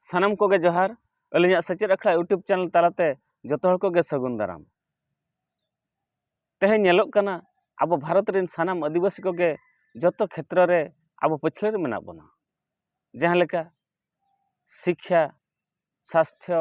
ᱥᱟᱱᱟᱢ ᱠᱚᱜᱮ ᱡᱚᱦᱟᱨ ᱟᱹᱞᱤᱧᱟᱜ ᱥᱮᱪᱮᱫ ᱟᱠᱷᱲᱟ ᱤᱭᱩᱴᱩᱵᱽ ᱪᱮᱱᱮᱞ ᱛᱟᱞᱟᱛᱮ ᱡᱚᱛᱚ ᱦᱚᱲ ᱠᱚᱜᱮ ᱥᱟᱹᱜᱩᱱ ᱫᱟᱨᱟᱢ ᱛᱮᱦᱮᱧ ᱧᱮᱞᱚᱜ ᱠᱟᱱᱟ ᱟᱵᱚ ᱵᱷᱟᱨᱚᱛ ᱨᱮᱱ ᱥᱟᱱᱟᱢ ᱟᱹᱫᱤᱵᱟᱹᱥᱤ ᱠᱚᱜᱮ ᱡᱚᱛᱚ ᱠᱷᱮᱛᱨᱚ ᱨᱮ ᱟᱵᱚ ᱯᱟᱹᱪᱷᱞᱟᱹ ᱨᱮ ᱢᱮᱱᱟᱜ ᱵᱚᱱᱟ ᱡᱟᱦᱟᱸ ᱞᱮᱠᱟ ᱥᱤᱠᱠᱷᱟ ᱥᱟᱥᱛᱷᱚ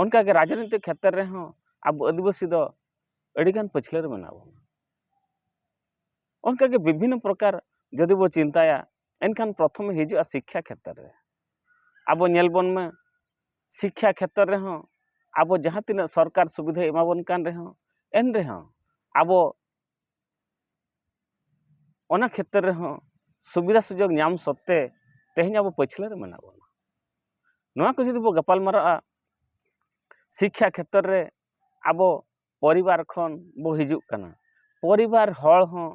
ᱚᱱᱠᱟ ᱜᱮ ᱨᱟᱡᱽᱱᱤᱛᱤ ᱠᱷᱮᱛᱨᱮ ᱨᱮᱦᱚᱸ ᱟᱵᱚ ᱟᱹᱫᱤᱵᱟᱹᱥᱤ ᱫᱚ ᱟᱹᱰᱤ ᱜᱟᱱ ᱯᱟᱹᱪᱷᱞᱟᱹ ᱨᱮ ᱢᱮᱱᱟᱜ ᱵᱚᱱᱟ ᱚᱱᱠᱟ ᱜᱮ ᱵᱤᱵᱷᱤᱱᱱᱚ ᱯᱨᱚᱠᱟᱨ ᱡᱩᱫᱤ ᱵᱚ ᱪᱤᱱᱛᱟᱹᱭᱟ ᱮᱱᱠᱷᱟᱱ ᱯᱨᱚᱛᱷᱚᱢᱮ ᱦᱤᱡᱩᱜᱼᱟ ᱥᱤᱠᱠᱷᱟ ᱠᱷᱮᱛᱨᱮ ᱨᱮ ᱟᱵᱚ ᱧᱮᱞ ᱵᱚᱱ ᱢᱮ ᱥᱤᱠᱠᱷᱟ ᱠᱷᱮᱛᱨᱮ ᱨᱮᱦᱚᱸ ᱟᱵᱚ ᱡᱟᱦᱟᱸ ᱛᱤᱱᱟᱹᱜ ᱥᱚᱨᱠᱟᱨ ᱥᱩᱵᱤᱫᱷᱟᱭ ᱮᱢᱟ ᱵᱚᱱ ᱠᱟᱱ ᱨᱮᱦᱚᱸ ᱮᱱ ᱨᱮᱦᱚᱸ ᱟᱵᱚ ᱚᱱᱟ ᱠᱷᱮᱛᱨᱮ ᱨᱮᱦᱚᱸ ᱥᱩᱵᱤᱫᱟ ᱥᱩᱡᱳᱜᱽ ᱧᱟᱢ ᱥᱚᱛᱛᱮ ᱛᱮᱦᱮᱧ ᱟᱵᱚ ᱯᱟᱹᱪᱷᱞᱟᱹ ᱨᱮ ᱢᱮᱱᱟᱜ ᱵᱚᱱᱟ ᱱᱚᱣᱟ ᱠᱚ ᱡᱩᱫᱤ ᱵᱚᱱ ᱜᱟᱯᱟᱞ ᱢᱟᱨᱟᱜᱼᱟ ᱥᱤᱠᱠᱷᱟ ᱠᱷᱮᱛᱨᱮ ᱨᱮ ᱟᱵᱚ ᱯᱚᱨᱤᱵᱟᱨ ᱠᱷᱚᱱ ᱵᱚ ᱦᱤᱡᱩᱜ ᱠᱟᱱᱟ ᱯᱚᱨᱤᱵᱟᱨ ᱦᱚᱲ ᱦᱚᱸ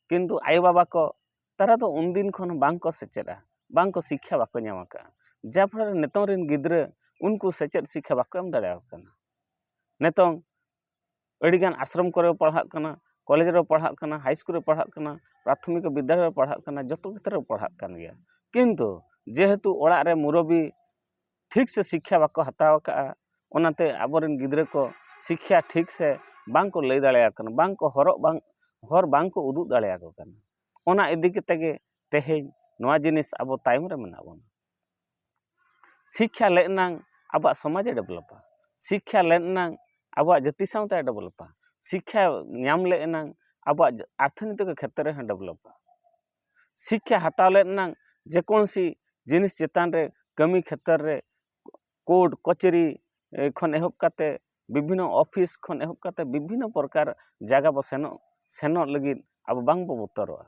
ᱠᱤᱱᱛᱩ ᱟᱭᱳ ᱵᱟᱵᱟ ᱠᱚ ᱛᱟᱨᱟ ᱫᱚ ᱩᱱ ᱫᱤᱱ ᱠᱷᱚᱱ ᱵᱟᱝ ᱠᱚ ᱥᱮᱪᱮᱫᱼᱟ ᱵᱟᱝ ᱠᱚ ᱥᱤᱠᱠᱷᱟ ᱵᱟᱠᱚ ᱧᱟᱢ ᱟᱠᱟᱫᱼᱟ ᱡᱟ ᱯᱷᱚᱞᱚ ᱨᱮ ᱱᱤᱛᱚᱝ ᱨᱮᱱ ᱜᱤᱫᱽᱨᱟᱹ ᱩᱱᱠᱩ ᱥᱮᱪᱮᱫ ᱥᱤᱠᱠᱷᱟ ᱵᱟᱠᱚ ᱮᱢ ᱫᱟᱲᱮᱭᱟᱠᱚ ᱠᱟᱱᱟ ᱱᱤᱛᱚᱝ ᱟᱹᱰᱤ ᱜᱟᱱ ᱟᱥᱨᱚᱢ ᱠᱚᱨᱮ ᱠᱚ ᱯᱟᱲᱦᱟᱜ ᱠᱟᱱᱟ ᱠᱚᱞᱮᱡᱽ ᱨᱮᱠᱚ ᱯᱟᱲᱦᱟᱜ ᱠᱟᱱᱟ ᱦᱟᱭ ᱤᱥᱠᱩᱞ ᱨᱮᱠᱚ ᱯᱟᱲᱦᱟᱜ ᱠᱟᱱᱟ ᱯᱨᱟᱛᱷᱚᱢᱤᱠ ᱵᱤᱫᱽᱫᱟᱞᱚᱭ ᱨᱮᱠᱚ ᱯᱟᱲᱦᱟᱜ ᱠᱟᱱᱟ ᱡᱚᱛᱚ ᱠᱷᱮᱛᱨᱮ ᱨᱮᱠᱚ ᱯᱟᱲᱦᱟᱜ ᱠᱟᱱ ᱜᱮᱭᱟ ᱠᱤᱱᱛᱩ ᱡᱮᱦᱮᱛᱩ ᱚᱲᱟᱜ ᱨᱮ ᱢᱩᱨᱚᱵᱤ ᱴᱷᱤᱠ ᱥᱮ ᱥᱤᱠᱠᱷᱟ ᱵᱟᱠᱚ ᱦᱟᱛᱟᱣ ᱠᱟᱜᱼᱟ ᱚᱱᱟᱛᱮ ᱟᱵᱚ ᱨᱮᱱ ᱜᱤᱫᱽᱨᱟᱹ ᱠᱚ ᱥᱤᱠᱠᱷᱟ ᱴᱷᱤᱠ ᱥᱮ ᱵᱟᱝ ᱠᱚ ᱞᱟᱹᱭ ᱫᱟᱲᱮᱭᱟᱠᱚ ᱠᱟᱱᱟ ᱵᱟᱝ ᱠᱚ ᱦᱚᱨᱚᱜ ᱵᱟᱝ ᱦᱚᱨ ᱵᱟᱝ ᱠᱚ ᱩᱫᱩᱜ ᱫᱟᱲᱮᱭᱟᱠᱚ ᱠᱟᱱᱟ ᱚᱱᱟ ᱤᱫᱤ ᱠᱟᱛᱮᱫ ᱜᱮ ᱛᱮᱦᱮᱧ ᱱᱚᱣᱟ ᱡᱤᱱᱤᱥ ᱟᱵᱚ ᱛᱟᱭᱚᱢ ᱨᱮ ᱢᱮᱱᱟᱜ ᱵᱚᱱᱟ ᱥᱤᱠᱠᱷᱟ ᱞᱮᱱ ᱮᱱᱟᱝ ᱟᱵᱚᱣᱟᱜ ᱥᱚᱢᱟᱡᱮ ᱰᱮᱵᱷᱞᱚᱯᱟ ᱥᱤᱠᱠᱷᱟ ᱞᱮᱱ ᱮᱱᱟᱝ ᱟᱵᱚᱣᱟᱜ ᱡᱟᱹᱛᱤ ᱥᱟᱶᱛᱟᱭ ᱰᱮᱵᱷᱞᱚᱯᱟ ᱥᱤᱠᱠᱷᱟ ᱧᱟᱢ ᱞᱮ ᱮᱱᱟᱝ ᱟᱵᱚᱣᱟᱜ ᱟᱨᱛᱷᱤᱱᱤᱛᱤᱠ ᱠᱷᱮᱛᱨᱮ ᱨᱮᱦᱚᱸᱭ ᱰᱮᱵᱷᱞᱚᱯᱟ ᱥᱤᱠᱠᱷᱟ ᱦᱟᱛᱟᱣ ᱞᱮᱱ ᱮᱱᱟᱝ ᱡᱮᱠᱳᱱᱳᱥᱤ ᱡᱤᱱᱤᱥ ᱪᱮᱛᱟᱱ ᱨᱮ ᱠᱟᱹᱢᱤ ᱠᱷᱮᱛᱚᱨ ᱨᱮ ᱠᱳᱨᱴ ᱠᱟᱹᱪᱷᱟᱹᱨᱤ ᱠᱷᱚᱱ ᱮᱦᱚᱵ ᱠᱟᱛᱮ ᱵᱤᱵᱷᱤᱱᱱᱚ ᱚᱯᱷᱤᱥ ᱠᱷᱚᱱ ᱮᱦᱚᱵ ᱠᱟᱛᱮ ᱵᱤᱵᱷᱤᱱᱱᱚ ᱯᱨᱚᱠᱟᱨ ᱡᱟᱭᱜᱟ ᱵᱚ ᱥᱮᱱᱚᱜ ᱥᱮᱱᱚᱜ ᱞᱟᱹᱜᱤᱫ ᱟᱵᱚ ᱵᱟᱝᱵᱚ ᱵᱚᱛᱚᱨᱚᱜᱼᱟ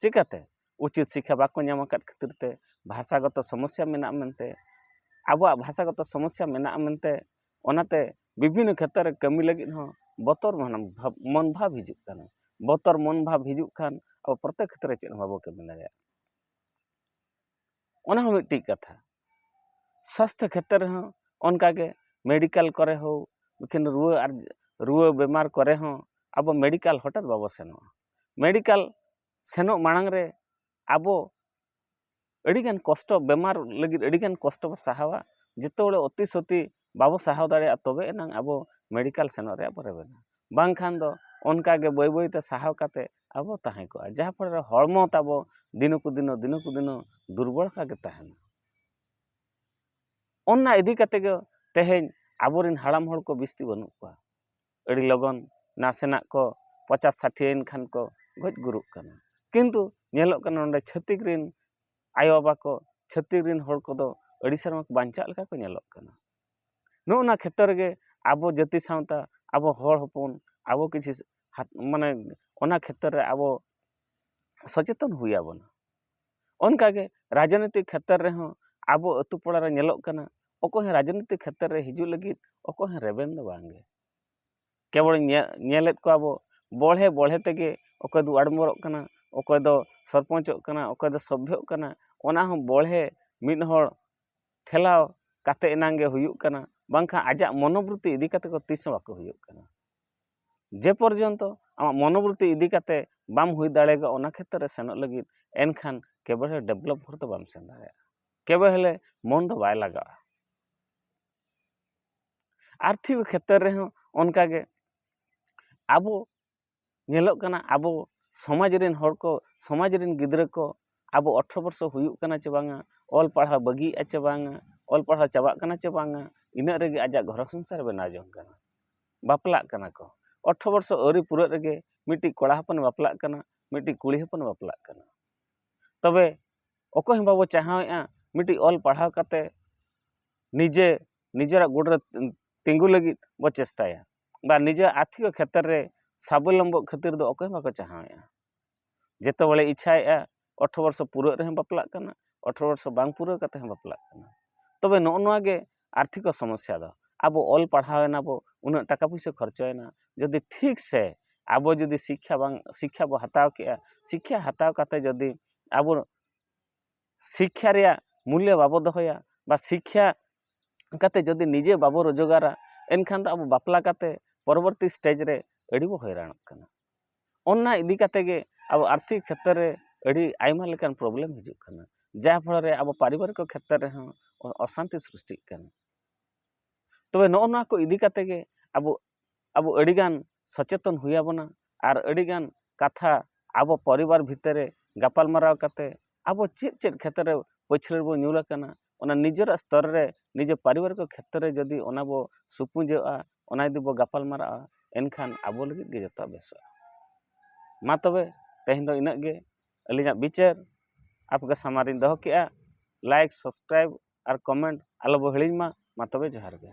ᱪᱤᱠᱟᱹᱛᱮ ᱩᱪᱤᱛ ᱥᱤᱠᱠᱷᱟ ᱵᱟᱠᱚ ᱧᱟᱢ ᱟᱠᱟᱫ ᱠᱷᱟᱹᱛᱤᱨ ᱛᱮ ᱵᱷᱟᱥᱟᱜᱚᱛᱚ ᱥᱚᱢᱚᱥᱥᱟ ᱢᱮᱱᱟᱜᱼᱟ ᱢᱮᱱᱛᱮ ᱟᱵᱚᱣᱟᱜ ᱵᱷᱟᱥᱟᱜᱚᱛᱚ ᱥᱚᱢᱚᱥᱥᱟ ᱢᱮᱱᱟᱜᱼᱟ ᱢᱮᱱᱛᱮ ᱚᱱᱟᱛᱮ ᱵᱤᱵᱷᱤᱱᱱᱚ ᱠᱷᱮᱛᱨᱚ ᱨᱮ ᱠᱟᱹᱢᱤ ᱞᱟᱹᱜᱤᱫ ᱦᱚᱸ ᱵᱚᱛᱚᱨ ᱢᱚᱱ ᱵᱷᱟᱵᱽ ᱦᱤᱡᱩᱜ ᱠᱟᱱᱟ ᱵᱚᱛᱚᱨ ᱢᱚᱱ ᱵᱷᱟᱵᱽ ᱦᱤᱡᱩᱜ ᱠᱷᱟᱱ ᱟᱵᱚ ᱯᱨᱚᱛᱮᱠ ᱠᱷᱮᱛᱨᱮ ᱨᱮ ᱪᱮᱫ ᱦᱚᱸ ᱵᱟᱵᱚ ᱠᱟᱹᱢᱤ ᱫᱟᱲᱮᱭᱟᱜᱼᱟ ᱚᱱᱟ ᱦᱚᱸ ᱢᱤᱫᱴᱤᱡ ᱠᱟᱛᱷᱟ ᱥᱟᱥᱛᱷᱚ ᱠᱷᱮᱛᱨᱮ ᱨᱮᱦᱚᱸ ᱚᱱᱠᱟ ᱜᱮ ᱢᱮᱰᱤᱠᱮᱞ ᱠᱚᱨᱮ ᱦᱳᱠ ᱤᱠᱷᱟᱹᱱ ᱨᱩᱣᱟᱹ ᱟᱨ ᱨᱩᱣᱟᱹ ᱵᱮᱢᱟᱨ ᱠᱚᱨᱮ ᱦᱚᱸ ᱟᱵᱚ ᱢᱮᱰᱤᱠᱮᱞ ᱦᱚᱴᱟᱛ ᱵᱟᱵᱚ ᱥᱮᱱᱚᱜᱼᱟ ᱢᱮᱰᱤᱠᱟᱞ ᱥᱮᱱᱚᱜ ᱢᱟᱲᱟᱝ ᱨᱮ ᱟᱵᱚ ᱟᱹᱰᱤᱜᱟᱱ ᱠᱚᱥᱴᱚ ᱵᱮᱢᱟᱨ ᱞᱟᱹᱜᱤᱫ ᱟᱹᱰᱤᱜᱟᱱ ᱠᱚᱥᱴᱚ ᱵᱚᱱ ᱥᱟᱦᱟᱣᱟ ᱡᱚᱛᱚ ᱦᱚᱲ ᱚᱛᱤ ᱥᱩᱛᱤ ᱵᱟᱵᱚ ᱥᱟᱦᱟᱣ ᱫᱟᱲᱮᱭᱟᱜᱼᱟ ᱛᱚᱵᱮ ᱮᱱᱟᱝ ᱟᱵᱚ ᱢᱮᱰᱤᱠᱟᱞ ᱥᱮᱱᱚᱜ ᱨᱮᱭᱟᱜ ᱵᱚ ᱨᱮᱵᱮᱱᱟ ᱵᱟᱝᱠᱷᱟᱱ ᱫᱚ ᱚᱱᱠᱟ ᱜᱮ ᱵᱟᱹᱭ ᱵᱟᱹᱭ ᱛᱮ ᱥᱟᱦᱟᱣ ᱠᱟᱛᱮ ᱟᱵᱚ ᱛᱟᱦᱮᱸ ᱠᱚᱜᱼᱟ ᱡᱟᱦᱟᱸ ᱯᱷᱚᱞᱮ ᱨᱮ ᱦᱚᱲᱢᱚ ᱛᱟᱵᱚ ᱫᱤᱱᱚ ᱠᱚ ᱫᱤᱱᱚ ᱫᱤᱱᱚ ᱠᱚ ᱫᱤᱱᱚ ᱫᱩᱨᱵᱚᱞ ᱟᱠᱟᱜ ᱜᱮ ᱛᱟᱦᱮᱱᱟ ᱚᱱᱟ ᱤᱫᱤ ᱠᱟᱛᱮ ᱜᱮ ᱛᱮᱦᱮᱧ ᱟᱵᱚᱨᱮᱱ ᱦᱟᱲᱟᱢ ᱦᱚᱲ ᱠᱚ ᱵᱤᱥᱛᱤ ᱵᱟᱹᱱᱩᱜ ᱠᱚᱣᱟ ᱟᱹᱰᱤ ᱞᱚᱜᱚᱱ ᱱᱟᱥᱮᱱᱟᱜ ᱠᱚ ᱯᱚᱪᱟᱥ ᱥᱟᱴᱷᱤ ᱭᱮᱱ ᱠᱷᱟᱱ ᱠᱚ ᱜᱚᱡ ᱜᱩᱨᱩᱜ ᱠᱟᱱᱟ ᱠᱤᱱᱛᱩ ᱧᱮᱞᱚᱜ ᱠᱟᱱᱟ ᱱᱚᱰᱮ ᱪᱷᱟᱹᱛᱤᱠ ᱨᱮᱱ ᱟᱭᱳ ᱵᱟᱵᱟ ᱠᱚ ᱪᱷᱟᱹᱛᱤᱠ ᱨᱮᱱ ᱦᱚᱲ ᱠᱚᱫᱚ ᱟᱹᱰᱤ ᱥᱮᱨᱢᱟ ᱠᱚ ᱵᱟᱧᱪᱟᱜ ᱞᱮᱠᱟ ᱠᱚ ᱧᱮᱞᱚᱜ ᱠᱟᱱᱟ ᱱᱚᱜᱼᱚ ᱱᱟ ᱠᱷᱮᱛᱨᱮ ᱨᱮᱜᱮ ᱟᱵᱚ ᱡᱟᱹᱛᱤ ᱥᱟᱶᱛᱟ ᱟᱵᱚ ᱦᱚᱲ ᱦᱚᱯᱚᱱ ᱟᱵᱚ ᱠᱤᱪᱷᱩ ᱢᱟᱱᱮ ᱚᱱᱟ ᱠᱷᱮᱛᱨᱮ ᱨᱮ ᱟᱵᱚ ᱥᱚᱪᱮᱛᱚᱱ ᱦᱩᱭ ᱟᱵᱚᱱᱟ ᱚᱱᱠᱟ ᱜᱮ ᱨᱟᱡᱽᱱᱤᱛᱤ ᱠᱷᱮᱛᱨᱮ ᱨᱮᱦᱚᱸ ᱟᱵᱚ ᱟᱛᱳ ᱯᱟᱲᱟ ᱨᱮ ᱧᱮᱞᱚᱜ ᱠᱟᱱᱟ ᱚᱠᱚᱭ ᱦᱚᱸ ᱨᱟᱡᱽᱱᱤᱛᱤ ᱠᱷᱮᱛᱨᱮ ᱨᱮ ᱦᱤᱡᱩᱜ ᱞᱟᱹᱜᱤᱫ ᱚᱠᱚᱭ ᱦᱚᱸ ᱨᱮᱵᱮᱱ ᱫᱚ ᱵᱟᱝ ᱜᱮ ᱠᱮᱵᱚᱞ ᱧᱮᱞᱮᱫ ᱠᱚᱣᱟ ᱵᱚ ᱵᱚᱲᱦᱮ ᱵᱚᱲᱦᱮ ᱛᱮᱜᱮ ᱚᱠᱚᱭ ᱫᱚ ᱚᱣᱟᱨᱰ ᱢᱮᱢᱵᱚᱨᱚᱜ ᱠᱟᱱᱟ ᱚᱠᱚᱭ ᱫᱚ ᱥᱚᱨᱯᱚᱧᱪᱚᱜ ᱠᱟᱱᱟ ᱚᱠᱚᱭ ᱫᱚ ᱥᱚᱵᱷᱭᱚᱜ ᱠᱟᱱᱟ ᱚᱱᱟ ᱦᱚᱸ ᱵᱚᱲᱦᱮ ᱢᱤᱫ ᱦᱚᱲ ᱴᱷᱮᱞᱟᱣ ᱠᱟᱛᱮᱫ ᱮᱱᱟᱝ ᱜᱮ ᱦᱩᱭᱩᱜ ᱠᱟᱱᱟ ᱵᱟᱝᱠᱷᱟᱱ ᱟᱡᱟᱜ ᱢᱚᱱᱚᱵᱨᱤᱛᱛᱤ ᱤᱫᱤ ᱠᱟᱛᱮᱫ ᱫᱚ ᱛᱤᱥ ᱦᱚᱸ ᱵᱟᱠᱚ ᱦᱩᱭᱩᱜ ᱠᱟᱱᱟ ᱡᱮ ᱯᱚᱨᱡᱚᱱᱛᱚ ᱟᱢᱟᱜ ᱢᱚᱱᱚᱵᱨᱚᱛᱛᱤ ᱤᱫᱤ ᱠᱟᱛᱮ ᱵᱟᱢ ᱦᱩᱭ ᱫᱟᱲᱮᱭᱟᱜᱼᱟ ᱚᱱᱟ ᱠᱷᱮᱛᱨᱮ ᱨᱮ ᱥᱮᱱᱚᱜ ᱞᱟᱹᱜᱤᱫ ᱮᱱᱠᱷᱟᱱ ᱠᱮᱵᱚᱞ ᱦᱮ ᱰᱮᱵᱷᱞᱚᱯ ᱵᱷᱳᱨ ᱫᱚ ᱵᱟᱢ ᱥᱮᱱ ᱫᱟᱲᱮᱭᱟᱜᱼᱟ ᱠᱮᱵᱚᱞ ᱦᱮᱞᱮ ᱢᱚᱱ ᱫᱚ ᱵᱟᱭ ᱞᱟᱜᱟᱜᱼᱟ ᱟᱨᱛᱷᱤᱠ ᱠᱷᱮᱛᱨᱮ ᱨᱮᱦᱚᱸ ᱚᱱᱠᱟ ᱜᱮ ᱟᱵᱚ ᱧᱮᱞᱚᱜ ᱠᱟᱱᱟ ᱟᱵᱚ ᱥᱚᱢᱟᱡᱽ ᱨᱮᱱ ᱦᱚᱲ ᱠᱚ ᱥᱚᱢᱟᱡᱽ ᱨᱮᱱ ᱜᱤᱫᱽᱨᱟᱹ ᱠᱚ ᱟᱵᱚ ᱟᱴᱷᱨᱚ ᱵᱚᱨᱥᱚ ᱦᱩᱭᱩᱜ ᱠᱟᱱᱟ ᱪᱮ ᱵᱟᱝᱟ ᱚᱞ ᱯᱟᱲᱦᱟᱣ ᱵᱟᱹᱜᱤᱭᱮᱜᱼᱟᱭ ᱪᱮ ᱵᱟᱝᱟ ᱚᱞ ᱯᱟᱲᱦᱟᱣ ᱪᱟᱵᱟᱜ ᱠᱟᱱᱟ ᱪᱮ ᱵᱟᱝᱟ ᱤᱱᱟᱹᱜ ᱨᱮᱜᱮ ᱟᱡᱟᱜ ᱜᱷᱟᱨᱚᱸᱡᱽ ᱥᱚᱝᱥᱟᱨᱮ ᱵᱮᱱᱟᱣ ᱡᱚᱝ ᱠᱟᱱᱟ ᱵᱟᱯᱞᱟᱜ ᱠᱟᱱᱟ ᱠᱚ ᱟᱴᱷᱨᱚ ᱵᱚᱨᱥᱚ ᱟᱹᱣᱨᱤ ᱯᱩᱨᱟᱹᱜ ᱨᱮᱜᱮ ᱢᱤᱫᱴᱤᱡ ᱠᱚᱲᱟ ᱦᱚᱯᱚᱱᱮ ᱵᱟᱯᱞᱟᱜ ᱠᱟᱱᱟ ᱢᱤᱫᱴᱤᱡ ᱠᱩᱲᱤ ᱦᱚᱯᱚᱱᱮ ᱵᱟᱯᱞᱟᱜ ᱠᱟᱱᱟ ᱛᱚᱵᱮ ᱚᱠᱚᱭ ᱦᱚᱸ ᱵᱟᱵᱚ ᱪᱟᱦᱟᱣᱮᱜᱼᱟ ᱢᱤᱫᱴᱤᱡ ᱚᱞ ᱯᱟᱲᱦᱟᱣ ᱠᱟᱛᱮ ᱱᱤᱡᱮ ᱱᱤᱡᱮᱨᱟᱜ ᱵᱩᱴ ᱨᱮ ᱛᱤᱸᱜᱩ ᱞᱟᱹᱜᱤᱫ ᱵᱚ ᱪᱮᱥᱴᱟᱭᱟ ᱵᱟ ᱱᱤᱡᱮᱨᱟᱜ ᱟᱨᱛᱷᱤᱠ ᱠᱷᱮᱛᱨᱮ ᱨᱮ ᱥᱟᱵᱚᱞᱚᱢᱵᱚᱜ ᱠᱷᱟᱹᱛᱤᱨ ᱫᱚ ᱚᱠᱚᱭ ᱦᱚᱸ ᱵᱟᱠᱚ ᱪᱟᱦᱟᱣᱮᱜᱼᱟ ᱡᱚᱛᱚ ᱦᱚᱲᱮ ᱤᱪᱪᱷᱟᱭᱮᱫᱼᱟ ᱟᱴᱷᱨᱚ ᱵᱚᱪᱷᱚᱨ ᱯᱩᱨᱟᱹᱜ ᱨᱮᱦᱚᱸ ᱵᱟᱯᱞᱟᱜ ᱠᱟᱱᱟ ᱟᱴᱷᱨᱚ ᱵᱚᱪᱷᱚᱨ ᱵᱟᱝ ᱯᱩᱨᱟᱹᱣ ᱠᱟᱛᱮ ᱦᱚᱸ ᱵᱟᱯᱞᱟᱜ ᱠᱟᱱᱟ ᱛᱚᱵᱮ ᱱᱚᱜᱼᱚ ᱱᱚᱣᱟ ᱜᱮ ᱟᱨᱛᱷᱤᱠᱚ ᱥᱚᱢᱚᱥᱥᱟ ᱫᱚ ᱟᱵᱚ ᱚᱞ ᱯᱟᱲᱦᱟᱣ ᱮᱱᱟᱵᱚ ᱩᱱᱟᱹᱜ ᱴᱟᱠᱟ ᱯᱩᱭᱥᱟᱹ ᱠᱷᱚᱨᱪᱟᱭᱮᱱᱟ ᱡᱩᱫᱤ ᱴᱷᱤᱠ ᱥᱮ ᱟᱵᱚ ᱡᱩᱫᱤ ᱥᱤᱠᱠᱷᱟ ᱵᱟᱝ ᱥᱤᱠᱠᱷᱟ ᱵᱚᱱ ᱦᱟᱛᱟᱣ ᱠᱮᱭᱟ ᱥᱤᱠᱠᱷᱟ ᱦᱟᱛᱟᱣ ᱠᱟᱛᱮ ᱡᱩᱫᱤ ᱟᱵᱚ ᱥᱤᱠᱠᱷᱟ ᱨᱮᱭᱟᱜ ᱢᱩᱞᱞᱚ ᱵᱟᱵᱚ ᱫᱚᱦᱚᱭᱟ ᱵᱟ ᱥᱤᱠᱠᱷᱟ ᱠᱟᱛᱮᱫ ᱡᱩᱫᱤ ᱱᱤᱡᱮ ᱵᱟᱵᱚ ᱨᱳᱡᱽᱜᱟᱨᱟ ᱮᱱᱠᱷᱟᱱ ᱫᱚ ᱟᱵᱚ ᱵᱟᱯᱞᱟ ᱠᱟᱛᱮᱫ ᱯᱚᱨᱚᱵᱚᱨᱛᱤ ᱥᱴᱮᱡᱽ ᱨᱮ ᱟᱹᱰᱤ ᱵᱚ ᱦᱚᱭᱨᱟᱱᱚᱜ ᱠᱟᱱᱟ ᱚᱱᱟ ᱤᱫᱤ ᱠᱟᱛᱮᱫ ᱜᱮ ᱟᱵᱚ ᱟᱨᱛᱷᱤᱠ ᱠᱷᱮᱛᱨᱮ ᱨᱮ ᱟᱹᱰᱤ ᱟᱭᱢᱟ ᱞᱮᱠᱟᱱ ᱯᱨᱚᱵᱞᱮᱢ ᱦᱤᱡᱩᱜ ᱠᱟᱱᱟ ᱡᱟᱦᱟᱸ ᱯᱷᱚᱲᱚ ᱨᱮ ᱟᱵᱚ ᱯᱟᱨᱤᱵᱟᱨᱤᱠ ᱠᱷᱮᱛᱨᱮ ᱨᱮᱦᱚᱸ ᱚᱥᱟᱱᱛᱤ ᱥᱨᱤᱥᱴᱤᱜ ᱠᱟᱱᱟ ᱛᱚᱵᱮ ᱱᱚᱜᱼᱚ ᱱᱚᱣᱟ ᱠᱚ ᱤᱫᱤ ᱠᱟᱛᱮ ᱜᱮ ᱟᱵᱚ ᱟᱵᱚ ᱟᱹᱰᱤᱜᱟᱱ ᱥᱚᱪᱮᱛᱚᱱ ᱦᱩᱭ ᱟᱵᱚᱱᱟ ᱟᱨ ᱟᱹᱰᱤᱜᱟᱱ ᱠᱟᱛᱷᱟ ᱟᱵᱚ ᱯᱚᱨᱤᱵᱟᱨ ᱵᱷᱤᱛᱤᱨ ᱨᱮ ᱜᱟᱯᱟᱞᱢᱟᱨᱟᱣ ᱠᱟᱛᱮ ᱟᱵᱚ ᱪᱮᱫ ᱪᱮᱫ ᱠᱷᱮᱛᱨᱮ ᱯᱟᱹᱪᱷᱞᱟᱹ ᱨᱮᱵᱚ ᱧᱩᱨ ᱟᱠᱟᱱᱟ ᱚᱱᱟ ᱱᱤᱡᱮᱨᱟᱜ ᱥᱛᱚᱨ ᱨᱮ ᱱᱤᱡᱮ ᱯᱟᱨᱤᱵᱟᱨᱤᱠ ᱠᱷᱮᱛᱨᱮ ᱨᱮ ᱡᱩᱫᱤ ᱚᱱᱟ ᱵᱚ ᱥᱩᱯᱩᱡᱚᱜᱼᱟ ᱚᱱᱟ ᱡᱩᱫᱤ ᱵᱚ ᱜᱟᱯᱟᱞᱢᱟᱨᱟᱜᱼᱟ ᱮᱱᱠᱷᱟᱱ ᱟᱵᱚ ᱞᱟᱹᱜᱤᱫ ᱜᱮ ᱡᱚᱛᱚᱣᱟᱜ ᱵᱮᱥᱚᱜᱼᱟ ᱢᱟ ᱛᱚᱵᱮ ᱛᱮᱦᱮᱧ ᱫᱚ ᱤᱱᱟᱹᱜ ᱜᱮ ᱟᱹᱞᱤᱧᱟᱜ ᱵᱤᱪᱟᱹᱨ ᱟᱯᱮᱠᱚ ᱥᱟᱢᱟᱝ ᱨᱮᱧ ᱫᱚᱦᱚ ᱠᱮᱫᱼᱟ ᱞᱟᱭᱤᱠ ᱥᱟᱵᱥᱠᱨᱟᱭᱤᱵᱽ ᱟᱨ ᱠᱚᱢᱮᱱᱴ ᱟᱞᱚᱵᱚᱱ ᱦᱤᱲᱤᱧ ᱢᱟ ᱢᱟ ᱛᱚᱵᱮ ᱡᱚᱦᱟᱨ ᱜᱮ